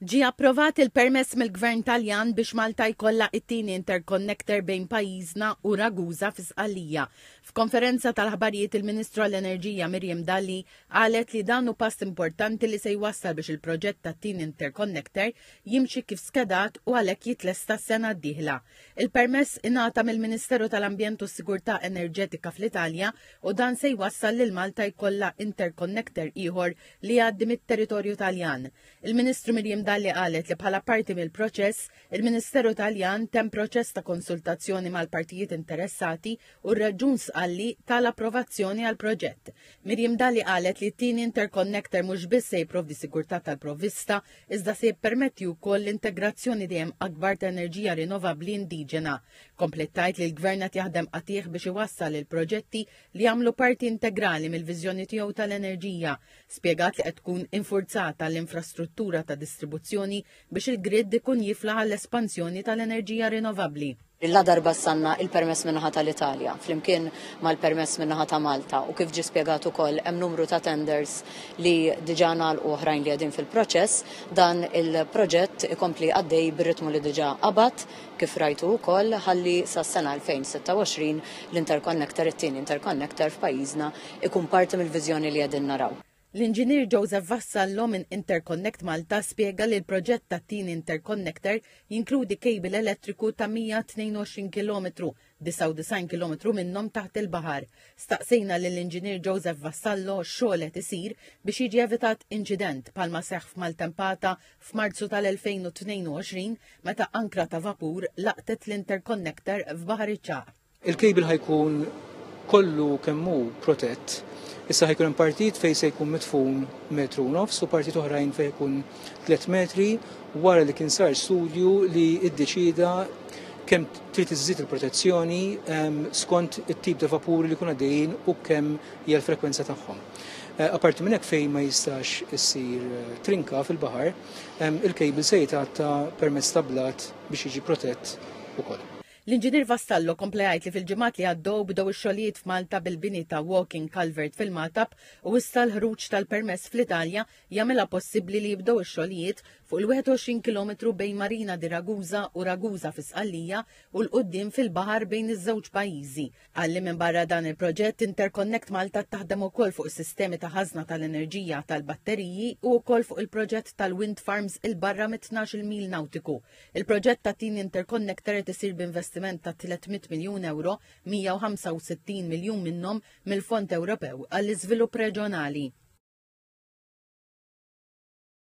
Ġie approvat il-permess mill-Gvern Taljan biex Malta jkollha t-tieni interconnector bejn pajjiżna u Ragusa fi Sqallija. F'konferenza tal-aħbarijiet il-Ministru għall-Enerġija Miriam Dalli qalet li dan hu pass importanti li se jwassal biex il-proġett tat-tieni interconnector jimxi kif skedat u għalhekk jitlesta s-sena d-dieħla. Il-permess ingħata mill-Ministeru tal-Ambjent u s-Sigurtà Enerġetika fl-Italja u dan se jwassal lil Malta jkollha interconnector ieħor li jgħaddi mit-territorju Taljan. Il-Ministru Miriam Dalli qalet li bħala parti mill-proċess, il-Ministeru Taljan temm proċess ta' konsultazzjoni mal-partijiet interessati u r-Reġjun Sqalli tal-approvazzjoni għal proġett. Miriam Dalli qalet li t-tieni interconnector mhux biss se jipprovdi sigurtà tal-provvista, iżda se jippermetti wkoll l-integrazzjoni dejjem akbar ta' enerġija rinnovabbli indiġena. Komplettajt li l-Gvern qed jaħdem qatih biex iwassal il-proġetti li jagħmlu parti integrali mill-viżjoni tiegħu tal-enerġija, spjegat li qed tkun infurzata l-infrastruttura ta' distribuzzjoni biex il-grid ikun jifla għall-espansjoni tal-enerġija rinnovabbli. La darba sanna il-permess minnaħa tal-Italja, flimkien mal-permess minnaħa ta' Malta, u kif ġi spjegat ukoll hemm numru ta' tenders li diġà ngħalqu oħrajn li qegħdin fil-proċess, dan il-proġett ikompli għaddej bir-ritmu li diġà qabad, kif rajtu wkoll, ħalli sas-sena 2026 l-interconnector, it-tieni interconnector f'pajjiżna, ikun parti mill-viżjoni li qegħdin naraw. L-Inġinier Joseph Vassallo minn Interconnect Malta spjega li l-proġett tat-tieni interconnector jinkludi kejbil elettriku ta' 122 kilometru 99 kilometru minnhom taħt il-baħar. Staqsejna lill-Inġinier Joseph Vassallo x'xogħol qed isir biex jiġi evitat inċident palma seħħ f'Maltempata f'Marzu tal-2022 meta ankra ta' vapur laqtet l-interconnector f'Baħar iċ-Ċagħaq. Il-kejbil ħajkun kollu kemmu protett. Issa ħajkun hemm partit fejn se jkun mitfun metru nofs u partit oħrajn fejn jkun tliet metri wara li kien sar studju li ddeċieda kemm trid iżżid il-protezzjoni ehm, skont it-tip ta' vapuri li kun għaddejjin u kemm hija l-frekwenza tagħhom. Eh, Aparti minn hekk fejn ma jistax issir eh, trinka fil-baħar, ehm, il-kejbil se jitgħatta permezz ta' blat biex jiġi protett ukoll. L-inġinier Vassallo komplejajt li fil-ġimgħat li għaddew bdew ix-xogħlijiet f'Malta bil-bini ta' walking culvert fil-Matab u issa l-ħruġ tal-permess fl-Italja jagħmilha possibbli li jibdew ix-xogħlijiet fuq il-21 kilometru bejn Marina di Ragusa u Ragusa fi Sqallija u 'l quddiem fil-baħar bejn iż-żewġ pajjiżi. Qal li minbarra dan il-proġett, Interconnect Malta taħdem ukoll fuq is-sistemi ta' ħażna tal-enerġija tal-batteriji u wkoll fuq il-proġett tal-wind farms 'il barra mit-tnax-il mil nawtiku. Il-proġett tat-tieni interconnector qed isir b'investiment ta' 300 miljun ewro, 165 miljun minnhom mill-Fond Ewropew għall-Iżvilupp Reġjonali.